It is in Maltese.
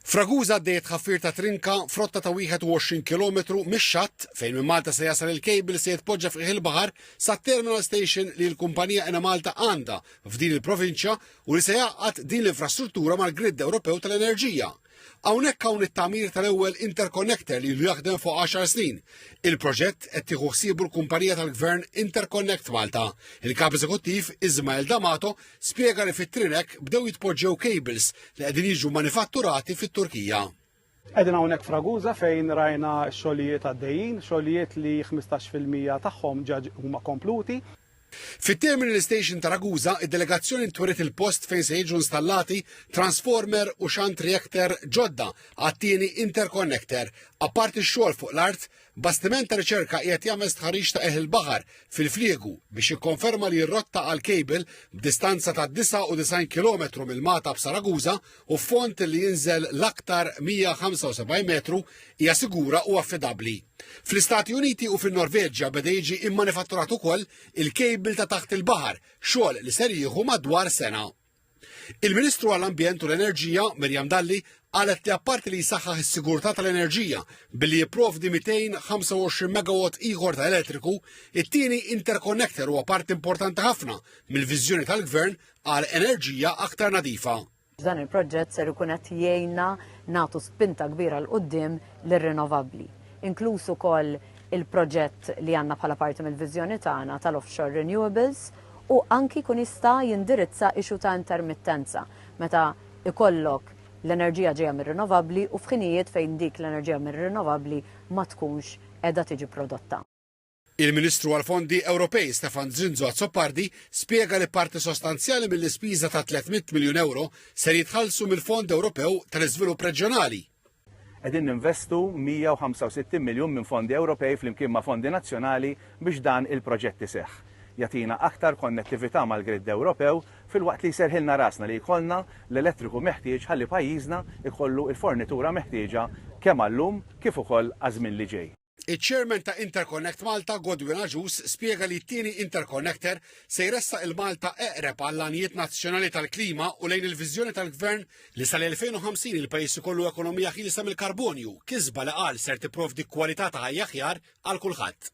F'Ragusa għaddej it-tħaffir ta' trinka f'rotta ta' 21 kilometru mix-xatt fejn minn Malta se jasal il-kejbil se jitpoġġa f'qiegħ il-baħar sat-terminal station li l-kumpanija Enemalta għandha f'din il-provinċja u li se jgħaqqad din l-infrastruttura mal-gridd Ewropew tal-enerġija. Hawnhekk hawn it-tagħmir tal-ewwel interconnector li ilu jaħdem fuq 10 snin. Il-proġett qed tieħu ħsiebu l-kumpanija tal-Gvern Interconnect Malta. Il-Kap Eżekuttiv Ismael D'Amato Spjega li fit-Trinek bdew jitpoġġew cables li qegħdin jiġu mmanifatturati fit-Turkija. Qegħdin hawnhekk f'Ragusa fejn rajna x-xogħlijiet għaddejjin, xogħlijiet li ħmistax fil-mija tagħhom ġa huma kompluti. Fit-Terminal Station ta' Ragusa, id-delegazzjoni ntweriet il-post fejn se jiġu installati transformer u xunt reactor ġodda għat-tieni interconnector. Apparti x-xogħol fuq l-art, Bastiment ta' riċerka qiegħed jagħmel stħarriġ ta' qegħ il-baħar fil-Fliegu biex jikkonferma li r-rotta għal cable b'distanza ta' 99 kilometru mill-Mata b'Saraguża u f'fond li jinżel l-aktar 175 metru hija sigura u affidabbli. Fl-Istati Uniti u fin-Norveġja beda jiġi immanifatturat ukoll il-cable ta' taħt il-baħar, xogħol li ser jieħu madwar sena. Il-Ministru għall-Ambjent u l-Enerġija, Miriam Dalli, qalet li apparti li jsaħħaħ is-sigurtà tal-enerġija billi jipprovdi 225 megawatt ieħor ta' elettriku, it-tieni interconnector huwa parti importanti ħafna mill-viżjoni tal-Gvern għal enerġija aktar nadifa. Dan il-proġett ser ikun qed jgħinna nagħtu spinta kbira l qudiem lir-rinovabbli, inkluż ukoll il-proġett li għandna bħala parti mill-viżjoni tagħna tal-offshore renewables u anki jkun jista' jindirizza issue ta' intermittenza meta jkollok l-enerġija ġejja mir-rinnovabbli u f'ħinijiet fejn dik l-enerġija mir-rinnovabbli ma tkunx qiegħda tiġi prodotta. Il-Ministru għall-Fondi Ewropej Stefan Zrinzo Azzopardi spjega li parti sostanzjali mill-ispiża ta' 300 miljun ewro ser jitħallsu mill-Fond Ewropew tal-Iżvilupp Reġjonali, Qegħdin ninvestu 165 miljun minn fondi Ewropej flimkien ma' fondi nazzjonali biex dan il-proġett iseħħ. Jagħtina aktar konnettività mal-gridd Ewropew filwaqt li jserrħilna rasna li jkollna l-elettriku meħtieġ ħalli pajjiżna jkollu l-fornitura meħtieġa kemm għal-lum kif ukoll għaż-żmien li ġej. Iċ-Chairman ta' Interconnect Malta, Godwin Agius, spjega li t-tieni interconnector se jressaq 'il Malta eqreb għall-għanijiet nazzjonali tal-klima u lejn il-viżjoni tal-Gvern li sal-2050 il-pajjiż ikollu ekonomija ħielsa mill-karbonju, kisba li qal ser tipprovdi kwalità ta' ħajja aħjar għal kulħadd.